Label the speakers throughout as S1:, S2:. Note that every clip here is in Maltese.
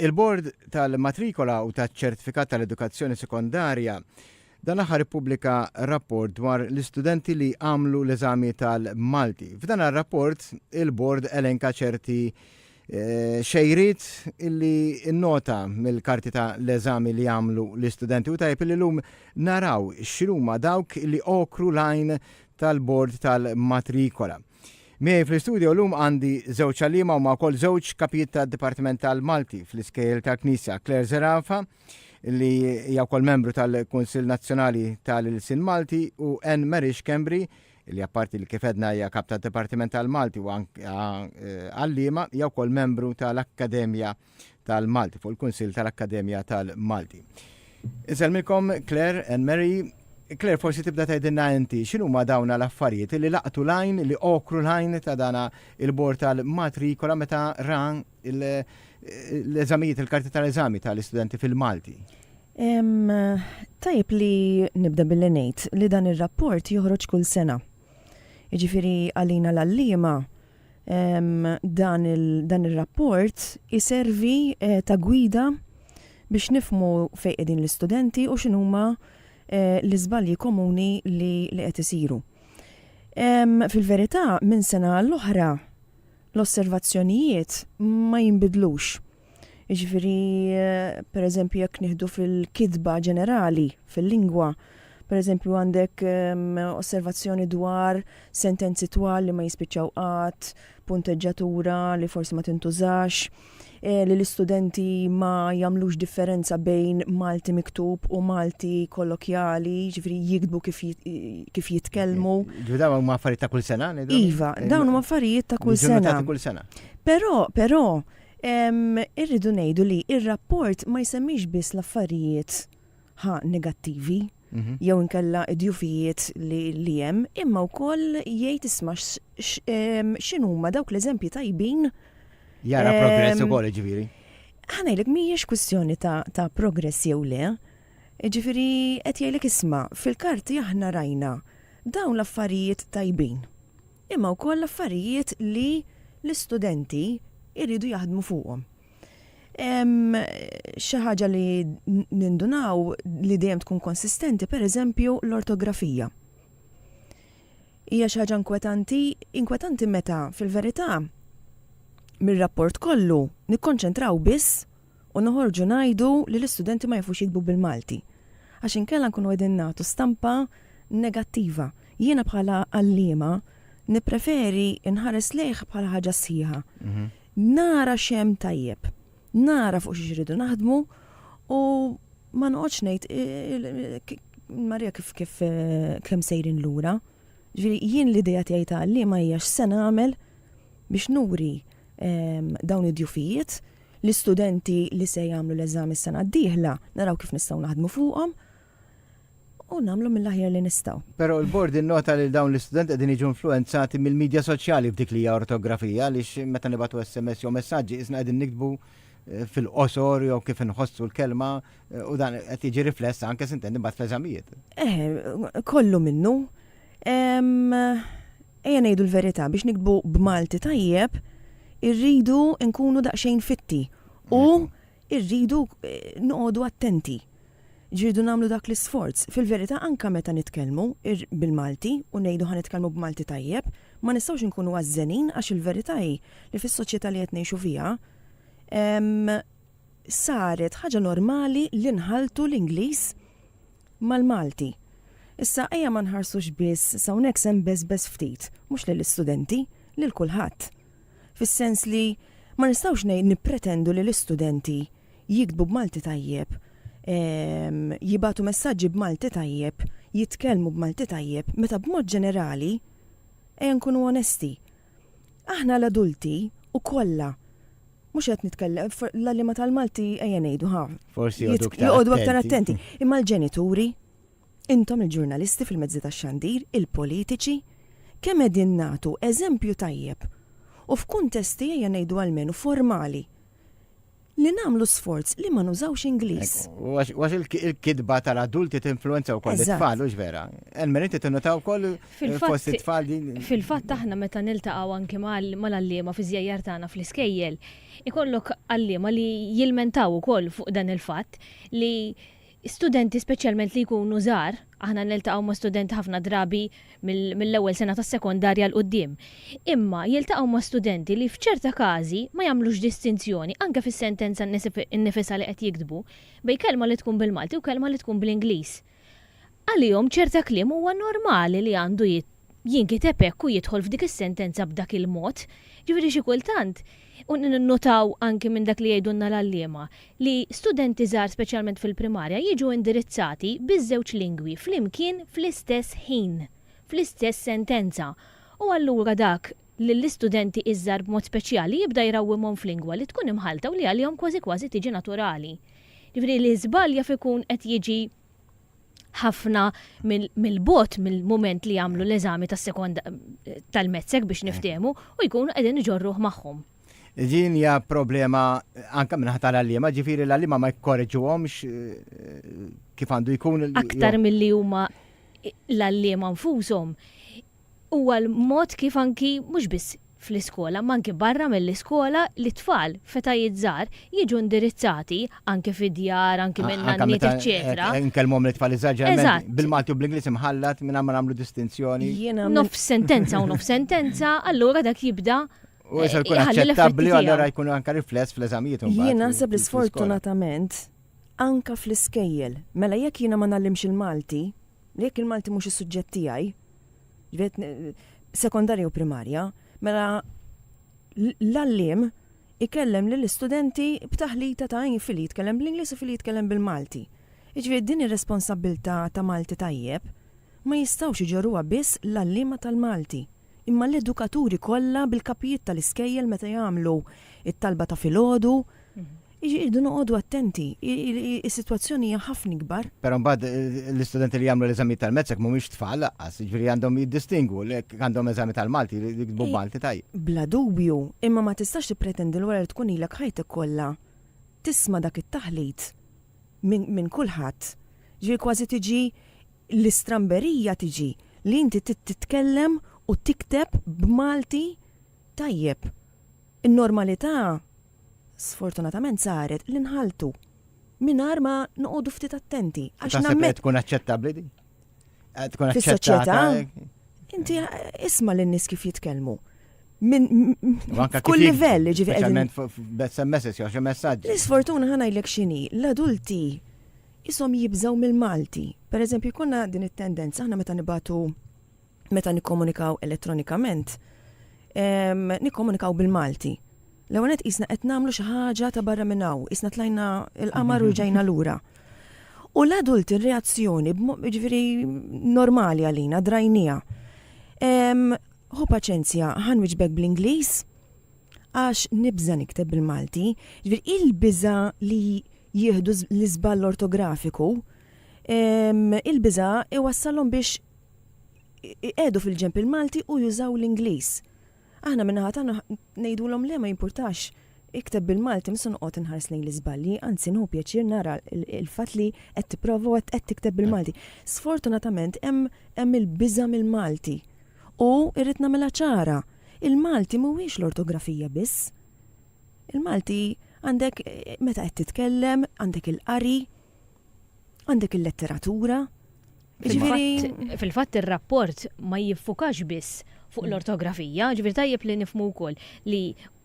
S1: Il-Bord tal-Matrikola u taċ-Ċertifikat tal-Edukazzjoni Sekondarja dan aħħar ippubblika rapport dwar l-istudenti li għamlu l-eżami tal-Malti. F'dan ar-rapport il-Bord elenka ċerti Eh, xejrit illi nota mill-karti ta' l-eżami li għamlu l-istudenti u tajb li l-lum naraw x'ruma dawk li okru lajn tal-bord tal-matrikola. Miej fl-istudio l-lum għandi żewġ għalima u ma' kol żewġ kapijiet ta' Dipartiment tal-Malti fl-iskejl tal-Knisja Claire Zerafa li hija wkoll membru tal-Kunsill Nazzjonali tal-Ilsin Malti u Anne Marix Kembri li apparti li kif għedna hija Kap tad-Dipartiment tal-Malti u għalliema hija wkoll membru tal-Akkademja tal-Malti fuq il-Kunsill tal-Akkademja tal-Malti. Insellmilkom Claire and Mary Claire, forsi tibda tgħidilna inti, x'inhu ma dawna l-affarijiet li laqtu lajn, li okru lajn ta' dana il-bord tal-matrikola meta ran l-eżamijiet, il-karti tal-eżami tal-istudenti fil-Malti.
S2: Tajb li nibda billi ngħid li dan ir-rapport joħroġ kull sena. Jiġifieri għalina l-allima dan ir-rapport iservi eh, ta' gwida biex nifmu fejn qegħdin l-istudenti u x'inhuma eh, l-iżbalji komuni li qed isiru. Fil-verità, minn sena l-oħra l-osservazzjonijiet ma jinbidlux. Jiġifieri, pereżempju, jekk nieħdu fil-kitba ġenerali, fil-lingwa, pereżempju għandek osservazzjoni dwar sentenzi twal li ma jispiċċaw qatt, punteġġatura li forsi ma tintużax, eh, li l-istudenti ma jagħmlux differenza bejn Malti miktub u Malti kollokjali, ġifri jikdbu kif, kif jitkellmu. Ġifri dawn huma affarijiet
S1: ta' kull sena? Iva, dawn huma
S2: affarijiet ta' kull sena. Kull sena. Però, però, irridu ngħidu li ir-rapport ma jsemmix biss l-affarijiet ħa negattivi. Mhm. jew inkella id-djufijiet li li hemm, imma wkoll jgħid isma' x- x- em, x'inhuma dawk l-eżempji tajbin Jara Ehm,
S1: progress ukoll ġifieri. ħanajlek
S2: mhijiex kwistjoni ta', ta progress jew le. Ġifiri, qed jgħidlek isma' fil-karti aħna rajna dawn l-affarijiet tajbin. Imma wkoll l-affarijiet li l-istudenti jridu jaħdmu fuqhom. Xi ħaġa li nindunaw li dejjem tkun konsistenti, per eżempju, l-ortografija. Hija xi ħaġa inkwetanti, inkwetanti meta fil-verità mir-rapport kollu nikkonċentraw biss u noħorġu ngħidu li l-istudenti ma jafux jikbu bil-Malti. Għax inkella nkunu qegħdin nagħtu stampa negattiva. Jiena bħala għalliema nippreferi nħares lejh bħala ħaġa sħiħa. Mhm. Nara x'hemm tajjeb. Nara fuq xiex irridu naħdmu u ma noqgħodx ngħid Marija kif kif kemm sejrin lura. Ġifieri jien l-idea tiegħi ta' għalliema hija x'se nagħmel biex nuri ehm, dawn id-djufijiet l-istudenti li se jagħmlu l-eżami s-sena d-dieħla naraw kif nistgħu naħdmu fuqhom u nagħmlu mill-aħjar li nistgħu. Però l-Bord innota
S1: li dawn l-istudenti qegħdin jiġu influwenzati mill-midja soċjali f'dik li hija ortografija għaliex meta nibgħatu SMS jew messaġġi qisna qegħdin niktbu eh, fil-qosor jew kif inħossu l-kelma eh, u dan qed jiġi rifless anke sintendi mbagħad fl-eżamijiet. Eh, kollu minnu.
S2: Ejja ngħidu l-verità biex nikbu b'Malti tajjeb irridu nkunu daqsxejn fitti u irridu eh, noqogħdu attenti. Ġirdu nagħmlu dak l-isforz. Fil-verità anke meta nitkellmu ir bil-Malti u ngħidu ħa nitkellmu b'Malti tajjeb, ma nistgħux inkunu għażżenin għax il-verità hi li fis-soċjetà li qed ngħixu fiha ehm saret ħaġa normali li nħalltu l-Ingliż mal-Malti. Issa ejja ma nħarsux biss s'hawnhekk se nbeżbeż ftit, mhux lill-istudenti, lil kulħadd. Fis-sens li ma nistgħux ngħid nippretendu li l-istudenti jiktbu b'Malti tajjeb, jibagħtu messaġġi b'Malti tajjeb, jitkellmu b'Malti tajjeb, meta b'mod ġenerali, ejja nkunu onesti, aħna l-adulti u kollha, mhux qed nitkellem, l-għalliema tal-Malti ejja ngħidu, ħa,
S1: joqogħdu aktar
S2: attenti, imma l-ġenituri, intom il-ġurnalisti fil-mezzi tax-xandir, il-politiċi, kemm qegħdin nagħtu eżempju tajjeb u f'kuntesti ejja ngħidu almenu formali. li namlu sforz li ma nużawx Ingliż. Għax
S1: il-kidba tal-adulti tinfluenza wkoll it-tfal, u vera. Elmer, inti tinnotaw wkoll fost it-tfal din. Fil-fatt aħna meta
S3: niltaqgħu anke mal-għalliema fi żjajjar tagħna fl-iskejjel, ikollok għalliema li jilmentaw ukoll fuq dan il-fatt li Studenti speċjalment li jkunu żgħar, aħna niltaqgħu ma' studenti ħafna drabi mill-ewwel sena tas-sekondarja 'l quddiem, imma jiltaqgħu ma' studenti li f'ċerta każi ma jagħmlux distinzjoni, anke fis-sentenza nnifisha li qed jiktbu, bejn kelma li tkun bil-Malti u kelma li tkun bl-Ingliż. Għalihom ċerta kliem huwa normali li għandu jinkiteb hekk u jidħol f'dik is-sentenza b'dak il-mod. Jiġifieri xi kultant, u ninnutaw anki minn dak li jgħidulna l-għalliema, li studenti żgħar speċjalment fil-primarja jiġu indirizzati biż-żewġ lingwi flimkien fl-istess ħin, fl-istess sentenza. U allura dak lill-istudenti iż-żgħar b'mod speċjali jibda jrawwimhom f'lingwa li tkun imħallta u li għalihom kważi kważi tiġi naturali. Jiġifieri li żball jaf ikun qed jiġi ħafna mill-bot mill-moment li jagħmlu l-eżami tas-sekonda tal-mezzek biex niftehmu u jkunu qegħdin iġorruh magħhom. Din hija
S1: problema anke minn ħatar għalliema, ġifieri l-għalliema ma jkorreġuhomx eh, kif għandu jkun. Aktar milli huma
S3: l-għalliema nfushom Huwa l-mod kif anki mhux biss fl-iskola, imma anki barra mill-iskola li t-tfal f'etajiet żgħar jiġu indirizzati, anki fid-djar, anki minn nanniet eċċetera. Anke meta nkellmuhom lit-tfal iż-żgħar
S1: ġeneralment bil-Malti u bl-Ingliż imħallat mingħajr ma nagħmlu distinzjoni. Nofs sentenza
S3: u nofs sentenza, allura dak jibda U issa jkun
S1: aċċettabbli u allura jkun anke rifless fl-eżamijiet imbagħad. Jien naħseb li
S2: sfortunatament anke fl-iskejjel, mela jekk jiena ma ngħallimx il-Malti, jekk il-Malti mhux is-suġġett tiegħi, sekondarja u primarja, mela l-għallim ikellem lill istudenti b'taħlita ta' fili jitkellem bl-Ingliż u fili jitkellem bil-Malti. Iġviri din ir-responsabilta ta' Malti tajjeb ma jistawx iġorruha biss l-għallima tal-Malti. Imma l-edukaturi kollha bil-kapijiet tal-iskejjel meta jagħmlu it-talba ta' filgħodu, Irridu noqogħdu attenti, is-sitwazzjoni hija ħafna ikbar. Però mbagħad
S1: l-istudenti li jagħmlu l-eżamijiet tal-MECSEC mhumiex tfal lanqas, jiġifieri għandhom jiddistingwu li jekk għandhom eżami tal-Malti jridu jiktbu b'Malti tajjeb. Bla dubju,
S2: imma ma tistax tippretendi li wara li tkun ilek ħajtek kollha tisma' dak it-taħlit minn kulħadd. Jiġifieri kważi tiġi l-istramberija tiġi li inti titkellem u tikteb b'Malti tajjeb. In-normalità Sfortunatament saret li nħaltu mingħajr ma noqogħdu ftit attenti. Għax nammet tkun
S1: aċċettabbli di? Eh, tkun
S2: aċċettata. Inti eh, isma' lin-nies kif jitkellmu. Min kull livell ġifi qegħdin. Bessem
S1: messaġġ jew xi messaġġ. L-isfortuna ħana jlek
S2: x'inhi, l-adulti jisom jibżgħu mill-Malti. Per eżempju, jkunna din it-tendenza aħna meta nibatu meta nikkomunikaw elettronikament, nikkomunikaw bil-Malti. L-ewwel qed qisna qed nagħmlu xi ħaġa ta' barra minn hawn, qisna tlajna l-qamar u rġajna lura. U l-adult ir-reazzjoni ġifieri normali għalina drajnija. Hu paċenzja ħan wiġbek bl-Ingliż għax nibża nikteb bil-Malti, ġifieri il-biża li jieħdu l-iżball ortografiku, il-biża iwassalhom biex iqiegħdu fil-ġenb il-Malti u jużaw l-Ingliż. Aħna min-naħa tagħna ngħidulhom le ma jimpurtax, ikteb bil-Malti mhux se noqgħod inħares lejn l-iżbalji, anzi nieħu pjaċir nara l-fatt li qed tipprova u qed tikteb bil-Malti. Sfortunatament hemm il-biża' mill-Malti u rrid nagħmilha ċara, il-Malti mhuwiex l-ortografija biss. Il-Malti għandek meta qed titkellem, għandek il-qari, għandek il-letteratura, Jiġifieri.
S3: Fil-fatt ir-rapport ma jiffukax biss fuq l-ortografija, ġifieri tajjeb li nifhmu wkoll li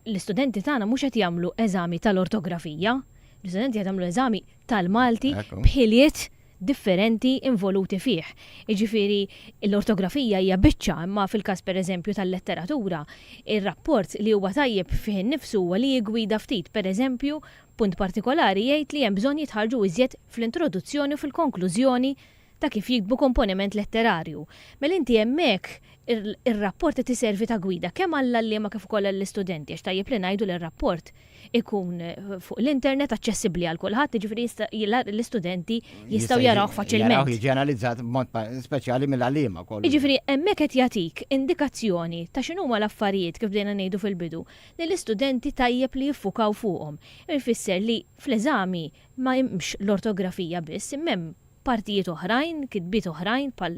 S3: l-istudenti tagħna mhux qed jagħmlu eżami tal-ortografija, l-istudenti qed jagħmlu eżami tal-Malti b'ħiliet differenti involuti fih. Jiġifieri l-ortografija hija biċċa imma fil-każ pereżempju tal-letteratura, ir-rapport li huwa tajjeb fih innifsu huwa li jiggwida ftit, pereżempju, B'punt partikolari jgħid li hemm bżonn jitħarrġu iżjed fl-introduzzjoni u fil-konklużjoni ta' kif jiktbu komponiment letterarju. Mela inti hemmhekk ir-rapport qed iservi ta' gwida kemm għall-għalliema kif ukoll għall-istudenti għax tajjeb li ngħidu li r-rapport ikun fuq l-internet aċċessibbli għal kulħadd jiġifieri jista' l-istudenti jistgħu jarawh faċilment. Jaraw jiġi analizzat b'mod
S1: speċjali mill-għalliema wkoll. Jiġifieri hemmhekk qed
S3: jagħtik indikazzjoni ta' x'inhuma l-affarijiet kif bdejna ngħidu fil-bidu li l-istudenti tajjeb li jiffukaw fuqhom. Ifisser li fl-eżami ma hemmx l-ortografija biss, imma hemm partijiet oħrajn, kitbiet oħrajn bħal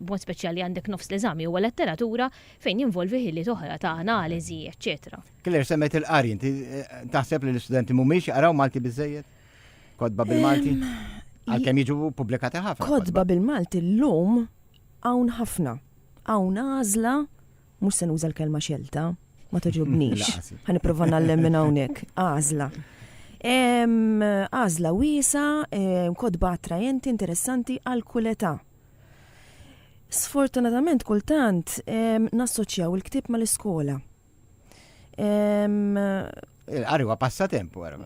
S3: b'mod speċjali għandek nofs l-eżami huwa letteratura fejn jinvolvi ħiliet oħra ta' analiżi, eċċetera. Claire, semmejt il-qari,
S1: inti taħseb li l-istudenti mhumiex jaqraw Malti biżżejjed? Kotba bil-Malti? Għalkemm jiġu ppubblikati ħafna. Kotba bil-Malti
S2: llum hawn ħafna. Hawn għażla Mhux se nuża l-kelma xelta, ma toġobnix. Ħa nipprova nallem minn hawnhekk. Għażla. Għażla wiesa, kodba attrajenti, interessanti għal kull età. Sfortunatament kultant nassoċjaw il-ktib mal-iskola.
S1: Il-qari huwa passatemp wara.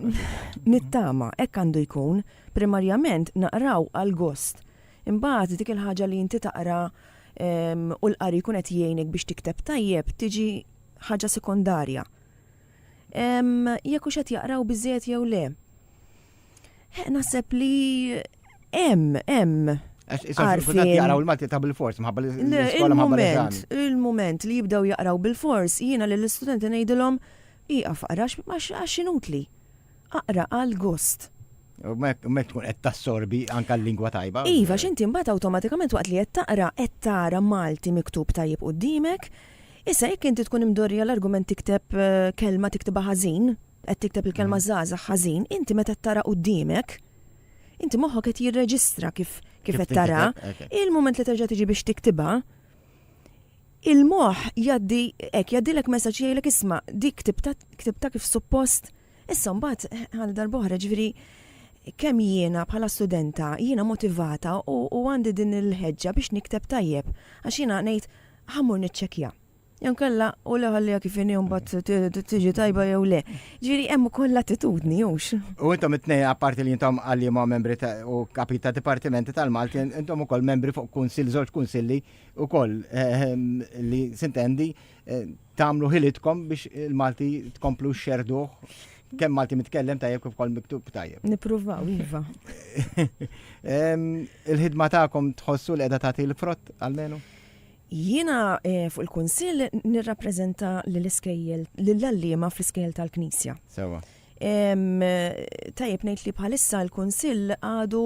S1: Nittama,
S2: hekk għandu jkun, primarjament naqraw għal gost. Imbagħad dik il-ħaġa li inti taqra u l-qari jkun qed jgħinek biex tikteb tajjeb tiġi ħaġa sekondarja. Jekk hux qed jaqraw biżejjed jew le. Naħseb li hemm, hemm
S1: Għarfien. Jaqraw il-Malti ta' bil-fors, mħabba li il-moment, il-moment li jibdew
S2: jaqraw bil-fors, jiena li l-istudenti ngħidilhom iqaf għarax għax inutli. aqra għal gost. U mek
S1: tkun qed tassorbi anke l-lingwa tajba. Iva, x'inti mbagħad
S2: awtomatikament waqt li qed taqra qed tara Malti miktub tajjeb quddiemek. Issa jekk inti tkun imdorrija l-argument tikteb eh, kelma tiktibha ħażin, qed tikteb il-kelma mm. żgħażagħ ħażin, inti meta tara quddiemek, inti moħħok qed jirreġistra kif kif qed tara, il-moment li terġa' tiġi biex tiktibha, il-moħ jaddi, ek, jaddilek messaċ jgħilek isma, dik ktibta kif suppost Issa mbagħad għal darb'oħra, ġifieri kemm jiena bħala studenta jiena motivata u għandi din il-ħeġġa biex nikteb tajjeb għax jiena ngħid ħa mmur niċċekkja. Jew inkella u le ħalliha kif inhi u mbagħad tiġi tajba jew le. Ġifieri hemm ukoll l-attitudni hux. U intom it-tnejn
S1: apparti li intom għalliema membri u kapit ta' dipartimenti tal-Malti, intom ukoll membri fuq kunsill żewġ kunsilli ukoll eh, eh, li sintendi eh, tagħmlu ħilitkom biex il-Malti tkomplu xerduh kemm Malti mitkellem tajjeb kif kol miktub tajjeb. Nipruvaw, iva. Il-ħidma tagħkom tħossu li qiegħda tagħti l-frott għalmenu? Jiena
S2: eh, fuq il-Kunsill nirrappreżenta l-iskejjel lill-allima fl-iskejjel tal-Knisja. Sewa. Tajjeb ngħid li bħalissa l-Kunsill għadu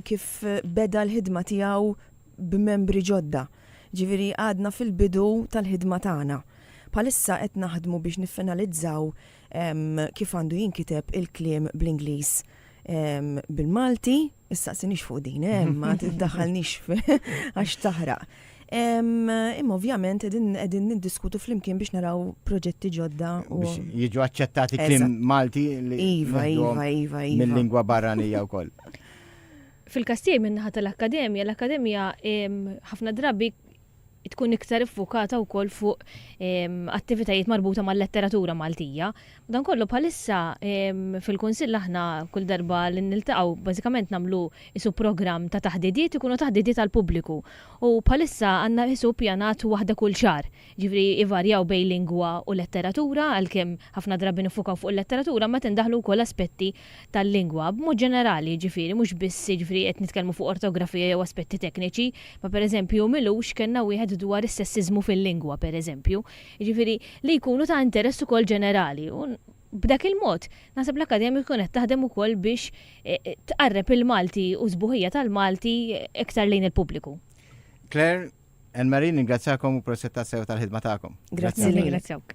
S2: kif beda l-ħidma tiegħu b'membri ġodda, jiġifieri għadna fil-bidu tal-ħidma tagħna. Bħalissa qed naħdmu biex niffinalizzaw kif għandu jinkiteb il-kliem bl-Ingliż bil-Malti, issaqsinix fuq din, eh, ma tiddaħħalnix għax taħraq. Imma ovvjament qegħdin niddiskutu flimkien biex naraw proġetti ġodda u. Jiġu
S1: aċċettati klim Malti li. Iva, iva, iva, iva. Mill-lingwa barranija wkoll. Fil-każ
S3: tiegħi min-naħa tal-Akkademja, l-Akkademja ħafna drabi tkun iktar iffukata wkoll fuq attivitajiet marbuta mal-letteratura Maltija. Dan kollu bħalissa fil-Kunsill aħna kull darba li niltaqgħu bażikament nagħmlu isu programm ta' taħdidiet ikunu taħdidiet għall-pubbliku. U bħalissa għandna isu ppjanat waħda kull xahar. Jiġifieri jvarjaw bejn lingwa u letteratura għalkemm ħafna drabi niffukaw fuq il-letteratura imma qed indaħħlu wkoll aspetti tal-lingwa, b'mod ġenerali, jiġifieri, mhux biss, jiġifieri, qed nitkellmu fuq ortografija jew aspetti tekniċi, ma pereżempju m'ilux kellna wieħed dwar is-sessiżmu fil-lingwa, pereżempju, jiġifieri, li jkunu ta' interess ukoll ġenerali u, b'dak il-mod, naħseb l-Akkademja tkun qed taħdem ukoll biex tqarreb il-Malti u s-sbuħija tal-Malti iktar lejn il-pubbliku. Claire,
S1: Anne-Marie, ningrazzjakom u proset
S2: tassew
S1: tal-ħidma tagħkom. Grazzi lilek. Nirringrazzjawk.